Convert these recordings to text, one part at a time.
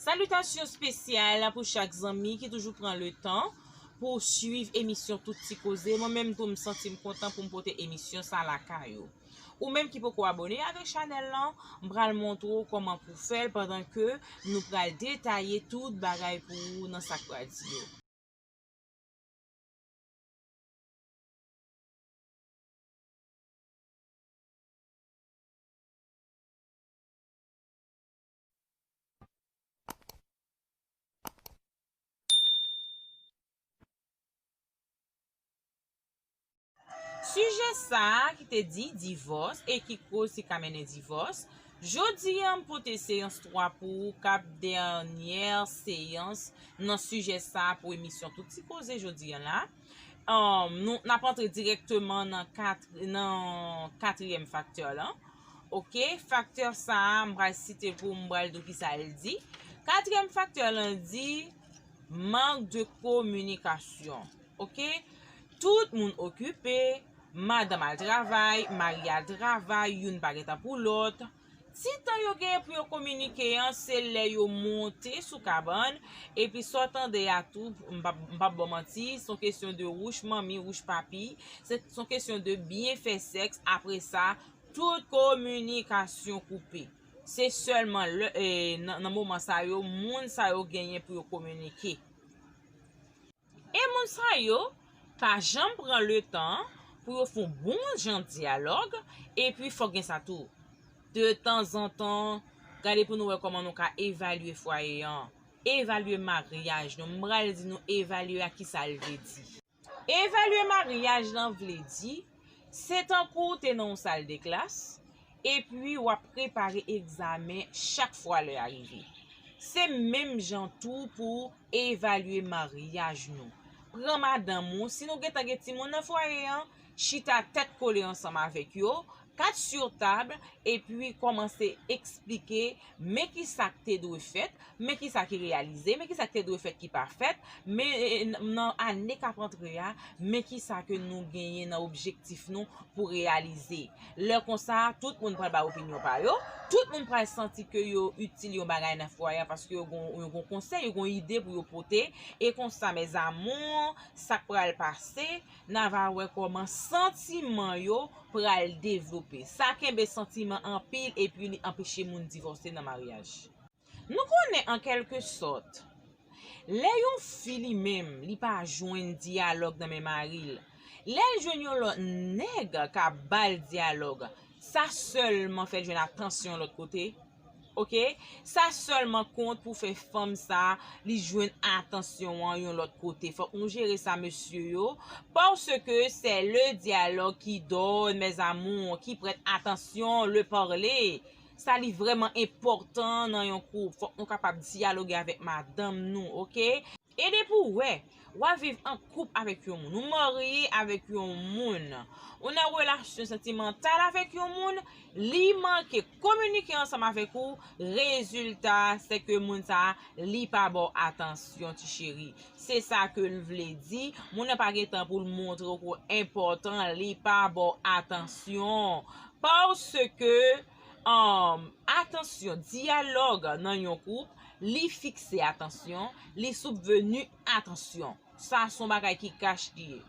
Salitasyon spesyal pou chak zanmi ki toujou pran le tan pou swiv emisyon tout ti koze, mwen menm tou m santi m kontan pou m pote emisyon sa lakay ou. Ou menm ki poko abone avèk chanèl lan, m pral montre w kòman pou fè l pandan ke nou pral detaye tout bagay pou ou nan sa k pral di yo. Sijè sa ki te di divòs e ki koz ki ka mennen divòs, jodi a m pote seyans 3 pou ou kap dènyè seyans nan sijè sa pou emisyon tout ti koze jodi a la. Nou, n ap antre dirèkteman nan kat, nan katriyèm faktè lan. Ok, faktè sa a, m pral site pou ou, m pral di ou kisa l di. Katriyèm faktè lan di, mank de kominikasyon. Ok, tout moun okipe, madanm al travay, mari al travay, youn pa gen tan pou lòt. Ti tan yo genyen pou yo kominike an se lè yo monte sou kabann, epi sa w tande a tou, m p ap ba w manti, s on kesyon de wouch manmi, wouch papi, s on kesyon de byen fè sèks, apre sa, tout kominikasyon koupe. Se sèlman nan moman sa yo moun sa yo genyen pou yo kominike. E moun sa yo pa janm pran letan pou yo fon bon jan dyalòg epi fòk gen sa tou de tanzantan gade pou nou wè kòman nou ka evalye fwaye an evalye maryaj nou m pral di nou evalye a kisa l vle di evalye maryaj lan vle di Se tankou w te nan yon sal de klas, epi w ap prepare egzamen chak fwa lè a rive. Se menm jan tou pou w evalye maryaj nou. Pran madanm ou, si nou gentan gen timoun nan fwaye an, chita tèt kole ansanm avèk yo, kat sur table, epi kòmanse eksplike Men ki sa k te dwe fèt, men ki sa ki reyalize, men ki sa k te dwe fèt ki pa fèt, men nan ane k ap antre a, men ki sa ke nou genyen nan objektif nou pou reyalize. Lè konsa, tout moun pral bay opinyon pa yo, tout moun pral santi ke yo itil yon bagay nan fwaye a paske yo gon konsèy, yo gon ide pou yo pote, e konsa mes amours, sa k pral pase, Na va wè kòman santiman yo pral devlope. Sa kenbe santiman anpil epi li anpeche moun divòse nan maryaj. Nou konnen an kèlke sòt, lè yon fi li menm li pa jwenn dyalòg nan men mari l, lè l jwenn yon lòt nèg k ap ba l dyalòg, sa sèlman fè l jwenn atansyon lòt kote, Ok sa selman kont pou fè fanm sa li jwenn atansyon an yon lot kote fok nou jere sa mesye yo paske sè le dyalog ki don mes amours ki prèt atansyon le parle sa li vreman enpotan nan yon koup fok nou kapab dyaloge avek madanm nou ok. E depi ou wè, wap viv an koup avèk yon moun, ou marye avèk yon moun, ou nan relasyon santimantal avèk yon moun, li manke kominike ansanm avèk ou, rezilta a se ke moun sa a li pa ba w atansyon ti cheri. Se sa ke l vle di, moun nan pa gen tan pou l montre w ke w enpòtan, li pa ba w atansyon. Paske. Atansyon, Dyalòg nan yon koup, li fikse atansyon, li soupveni atansyon. Sa se yon bagay ki kach li ye.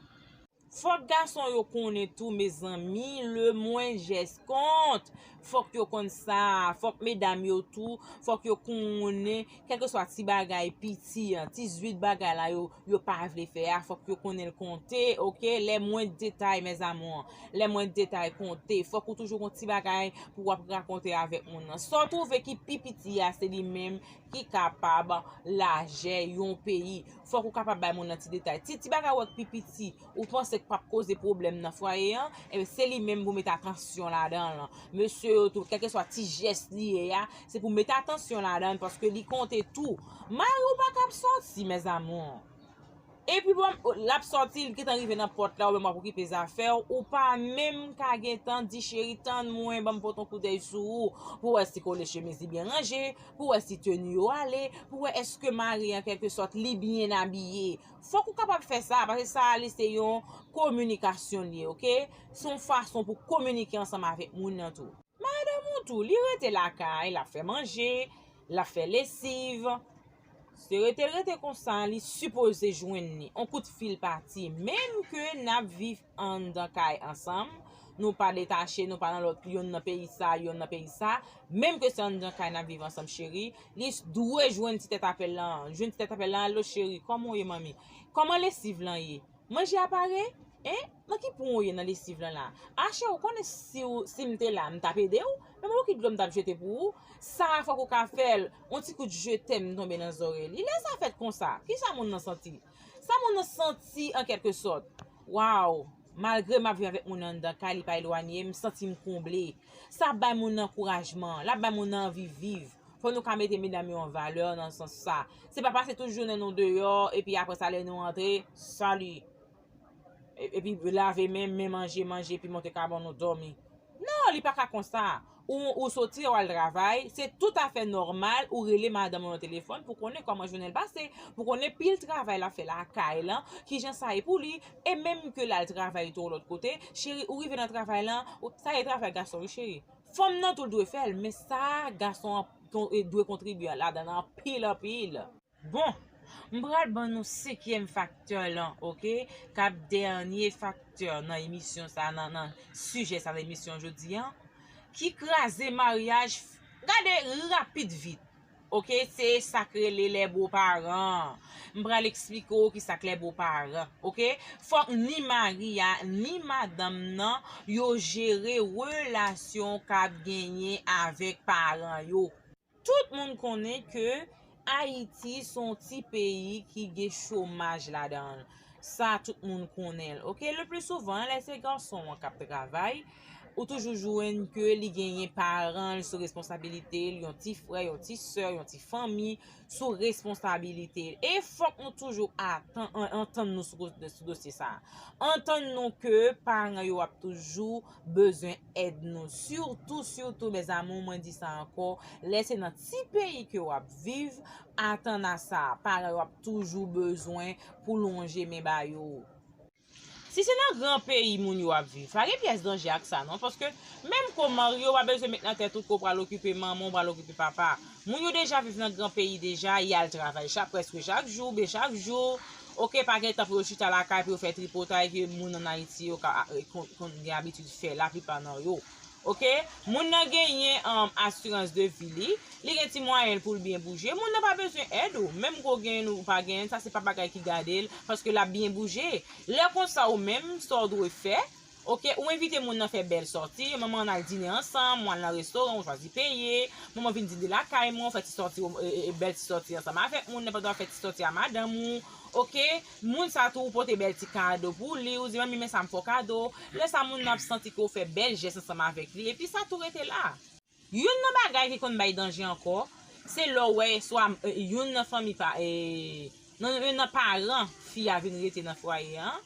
Fòk gason yo konnen tou mezanmi le mwen jès kont. Fòk yo konn sa. Fòk medam yo tou, fòk yo konnen. Kèlkeswa ti bagay, piti an, ti zwit bagay la yo, yo pa vle fè a, fòk yo konnen l konte, ok, lè mwen detay mes amours, lè mwen detay konte, fòk ou toujou gon ti bagay pou w ap rakonte avèk moun nan. Sa w twouve ki pi piti a, se li menm ki kapab lajè yon peyi. Fòk ou kapab bay moun nan ti detay. Ti bagay ou wè k pi piti. ou panse k pap koze pwoblèm nan fwaye an, enben se li menm pou mete atansyon ladan l. Mesye yo tou, kèlkeswa ti jès li ye a, se pou mete atansyon ladan l paske li konte tou. Mari w pa ka ap sòti mes amours. Epi bon, l ap sòti, li gentan rive nan pòt la ou menm w ap okipe zafè w, ou pa menm ka gentan di cheri tann mwen ban m pote yon koudèy sou ou pou wè si kole chemiz li byen ranje, pou wè si teni yo ale, pou wè èske mari an kèlkesòt li byen abiye. Fòk ou kapab fè sa, pase sa a li se yon kominikasyon li ye ok, se yon fason pou kominike ansanm avèk moun nan tou. Madanm ou tou, li rete lakay, l ap fè manje, l ap fè lesiv, se rete l rete konsa li sipoze jwenn li, on kout fil pati, menm ke n ap viv anndan kay ansanm, nou pa detache, nou pa nan lòt, yonn nan peyi sa, yonn nan peyi sa, menm ke se anndan kay n ap viv ansanm cheri, li dwe jwenn ti tèt apèl lan an, jwenn ti tèt apèl lan an, alo cheri, kòman w ye manmi? Kòman lesiv lan ye? Manje a pare? Hein? Nan ki pwen w ye nan lesiv lan la? A cheri ou konnen si w, si m te la, m t ap ede w? Men m wè ki dlo m t ap jete pou ou, sa a fòk ou ka fè l, on ti kout je tèm tonbe nan zòrèy li, lè sa fèt konsa, kisa moun nan santi? Sa moun nan santi an kèlke sòt? Waww! Malgre m ap viv avèk moun nan anndan kay, li pa elwanye, m santi m konble. Sa ap bay moun nan ankourajman, l ap bay moun nan anvi viv. Fò nou ka mete medam yo an valè nan sans sa. Se pa pase tout jounen nou deyò, epi apre sa lè nou antre, salut! Epi lave men, men manje, manje, epi monte ka ban nou dòmi. Non li paka konsa ou ou soti ou al travay se tout afè nòmal ou rele madanm ou nan telefòn pou konnen kòman jounenl pase pou konnen pil travay lap fè lakay lan kijan sa ye pou li e menm ke lal travay tou lòt kote cheri ou rive nan travay lan sa e travay gason wi cheri fanm nan tou dwe fèl men sa gason an dwe kontribye ladann anpil anpil. Bon! M pral ban nou senkyèm faktè lan ok, k ap dènye faktè nan emisyon sa nan sijè sa nan emisyon jodi an, ki kraze maryaj gade rapid vit ok se sa k rele lè bo paran m pral eksplike w ki sa k lè bo paran ok fòk ni mari a ni madanm nan yo jere relasyon k ap genyen avèk paran yo. Tout moun konnen ke Ayiti se yon ti peyi ki gen chomaj ladan l. Sa tout moun konnen l. Ok, le pli souvan lè se gason an k ap travay, ou toujou jwenn ke li genyen paran l sou responsabilite l, yon ti frè, yon ti sè, yon ti fanmi sou responsabilite l. E fòk nou toujou antann nou sou dosye sa. Antann nou ke paran yo ap toujou bezwen èd nou sitou sitou mes amour mwen di sa ankò lè se nan ti peyi ke wap viv atan a sa paran yo ap toujou bezwen pou lonje men ba yo si se nan gran peyi moun yo ap viv pa gen pyès danje ak sa non paske menm ke w marye w pa bezwen met nan tèt ou ke w pral okipe manman w pral okipe papa moun yo deja viv nan gran peyi deja yal travay chak prèske chak jou oubyen chak jou Ok pa gen tan pou yo chita lakay pou yo fè tripotay ke moun an Ayiti yo konn gen abitid fè la plipa nan yo. Ok moun nan genyen asirans de vi li, li gen ti mwayenl poul byen bouje, moun nan pa bezwen èd ou, menm ke w genyenn ou pa genyenn sa se pa bagay ki gadel paske lap byen bouje. Lè konsa ou menm sa w dwe fè, Ok ou envite moun nan fè bèl sòti, manman ann al dine ansanm, ou al nan restoran ou chwazi peye, manman vin dine lakay mwen ou fè ti sòti ou bèl ti sòti ansanm avèk moun nan pandan wap fè ti sòti a madanm ou ok moun sa tou ou pote bèl ti kado pou li ou di manmi men sa m fè w kado lè sa moun nan ap santi ke ou fè bèl jès ansanm avèk li epi sa tou rete la. Youn nan bagay ki konn bay danje ankò, se lè w wè swa youn nan fanmi pa, non youn nan paran fi a vin rete nan fwaye an,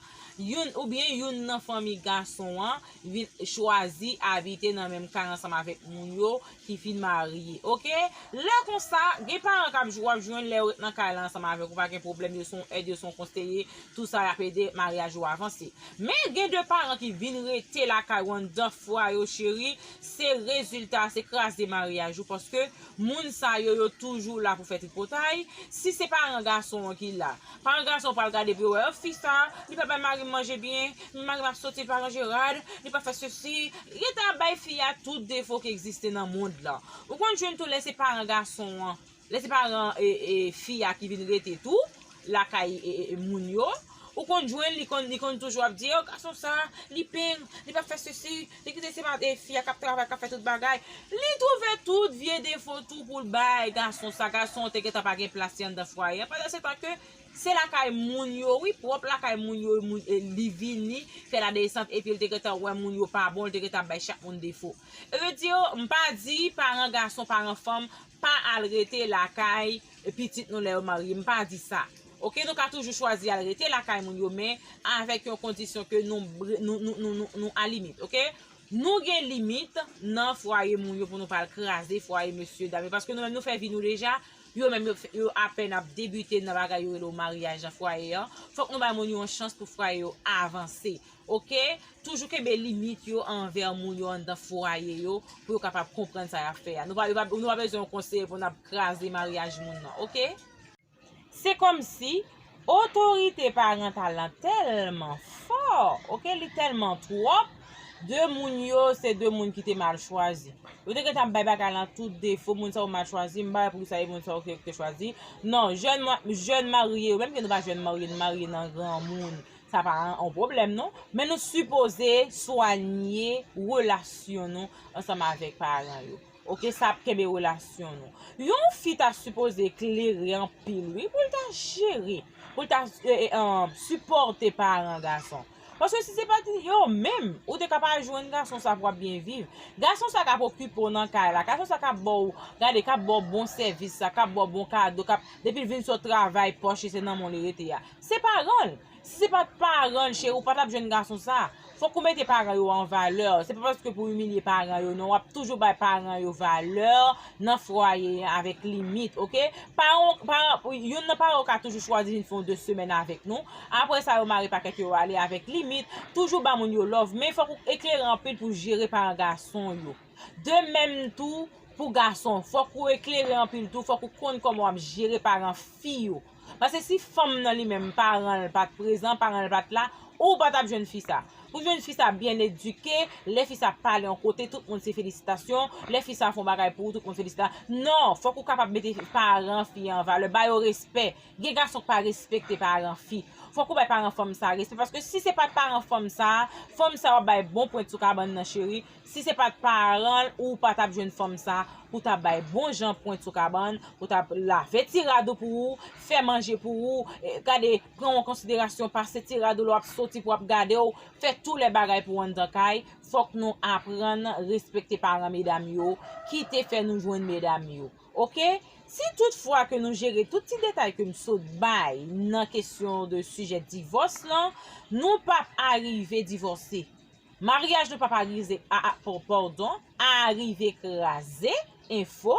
youn oubyen youn nan fanmi gason an vin chwazi abite nan menm kay ansanm avèk moun yo ki fin marye ok. Lè konsa, gen paran k ap, w ap jwenn lè yo ret nan kay la ansanm avèk ou pa gen pwoblèm, yo se yon èd, yo se yon konseye, tou sa y ap ede maryaj ou avanse. Men gen de paran ki vin rete lakay ou anndan fwaye w cheri, Se rezilta se kraze maryaj ou paske moun sa yo yo toujou la pou fè tripotay, si se paran gason an ki la, paran gason an pral gade pou yo wè oh fi sa li pa bay marim manje byen, men marim ap soti li pa ranje rad, li pa fè sesi, leta ap bay fi a tout defo ki egziste nan mond lan. Ou konn jwenn tou lè se paran gason an Lè se paran fi a ki vin rete tou lakay moun yo, ou konn jwenn li konn li konn toujou ap di o gason sa, li peng, li pa fè sesi, li kite se pa fi a kap travay kap fè tout bagay. Li twouve tout vye defo tou pou l bay gason sa, gason an te gentan pa gen plas li anndan fwaye an pandansetan ke se lakay moun yo wi, pwòp lakay moun yo li vini fè ladesant epi l te gentan wè moun yo pa bon, l te gentan ap bay chak moun defo. Sa vle di m pa di paran gason, paran fanm pa al rete lakay pitit nou lè yo marye m pa di sa ok nou ka toujou chwazi al rete lakay moun yo men avèk yon kondisyon ke nou nou a limit ok nou gen limit nan fwaye moun yo pou nou pa al kraze fwaye mesye dam yo paske nou menm nou fè vi nou deja yo menm yo apèn ap debite nan bagay yo rele yo maryaj nan fwaye an fòk nou bay moun yo yon chans pou fwaye yo avanse Ok, toujou kenbe limit yo anvè moun yo anndan fwaye yo pou yo kapab konprann sa yap fè a. Nou pa bezwen yon konseye pou nap kraze maryaj moun nan ok. Se kòmsi otorite parantal lan tèlman fò ok, li tèlman twòp, de moun yo se de moun ki te mal chwazi. Yo te gentan ap bay bagay lan tout defo, moun sa yo mal chwazi, m pa wè poukisa e moun sa yo ki yo te chwazi. Non, jèn marye yo, menm ke nou pa jèn marye, nou marye nan granmoun, Sa pa yon pwoblèm non. Men nou sipoze swanye relasyon nou ansanm avèk paran yo. Ok sa ap kenbe relasyon nou. Yon fi ta sipoze klere anpil wi pou l ta jere, pou l ta sipòte paran gason. Paske si se pat yo menm, ou te ka pa jwenn gason sa pou w ap byen viv. Gason sa k ap okipe w nan kay la, gason sa k ap ba w, gade k ap ba w bon sèvis sa, k ap ba w bon kado, k ap depi l vin sot travay pòch li se nan men w li rete a. Se paranl, si se pat paranl cheri ou pa tap jwenn gason sa, fok ou mete paran yo an valè, se pa paske pou imilye paran yo non, wap toujou bay paran yo valè nan fwaye an avèk limit ok, paran paran youn nan paran yo ka toujou chwazi vin fè yon 2 semèn avèk nou, aprè sa yo mare pakèt yo yo ale avèk limit, toujou ba moun yo love men fok ou eklere anpil pou jere paran gason yo, de menm tou pou gason fok ou eklere anpil tou fok ou konn kòman wap jere paran fi yo. Pase si fanm nan li menm paran l pat prezan, paran l pat la, ou pa tap jwenn fi sa. Pou jwenn fi sa byen edike, lè fi sa pale yon kote tout moun se felisitasyon, lè fi sa fon bagay pou ou tout moun felisita, non, fòk ou kapab mete paran fi an valè, ba yo respè. Gen gason k pa respekte paran fi. Fòk ou bay paran fanm sa respè paske si se pat paran fanm sa, fanm sa wap bay bon pwent sou kabann nan cheri, Si se pat paranl ou pa tap jwenn fanm sa pou ta bay bon jan pwen sou kabann pou ta lave ti rad ou pou ou fè manje pou ou gade pran w an konsiderasyon pase ti rad ou lè wap soti pou ap gade w fè tou lè bagay pou w anndan kay fòk nou aprann respekte paran medam yo ki te fè nou jwenn medam yo ok si tout fwa ke nou jere tout ti detay ke m sot bay nan kesyon de sijè divòs lan nou pap arive divòse. Maryaj nou pap arize aa pòdon aa rive kraze enfo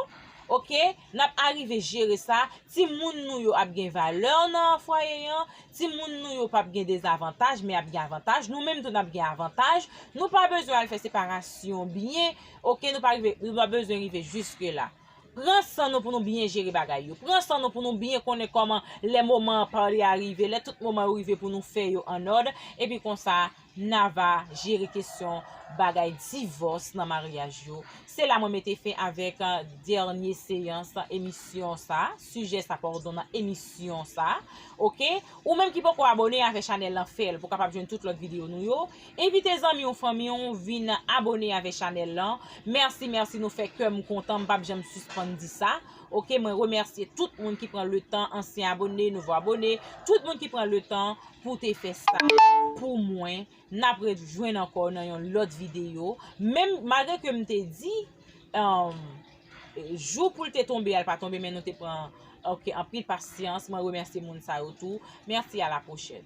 ok nap arive jere sa timoun nou yo ap gen valè nan fwaye an timoun nou yo pap gen dezavantaj men ap gen avantaj nou menm tou nap gen avantaj nou pa bezwen al fè separasyon byen ok nou pa rive nou pa bezwen rive jiske la pran san nou pou nou byen jere bagay yo pran san nou pou nou byen konnen kòman lè moman an pale a rive lè tout moman yo rive pou nou fè yo an òd epi konsa. Nan va jere kesyon bagay divòs nan maryaj yo. Se la mwen mete fen avèk dènye seyans emisyon sa, sijè sa pardon nan emisyon sa ok. Ou menm ki poko abone avè chanèl lan fèl pou kapab jwenn tout lòt videyo nou yo. Envite zanmi w fanmi w vin abone avè chanèl lan. Mèsi mèsi nou fè kèm kontan m pap janm sispann di sa ok. Mwen remèsye tout moun ki pran letan ansyen abone, nouvo abone, tout moun ki pran letan pou te fè sa pou mwen nap ret jwenn ankò nan yon lòt video menm malgre ke m te di jou pou l te tonbe a l pa tonbe men nou te pran ok anpil pasyans mwen remèsye moun sa yo tou mèsi a la pwochèn.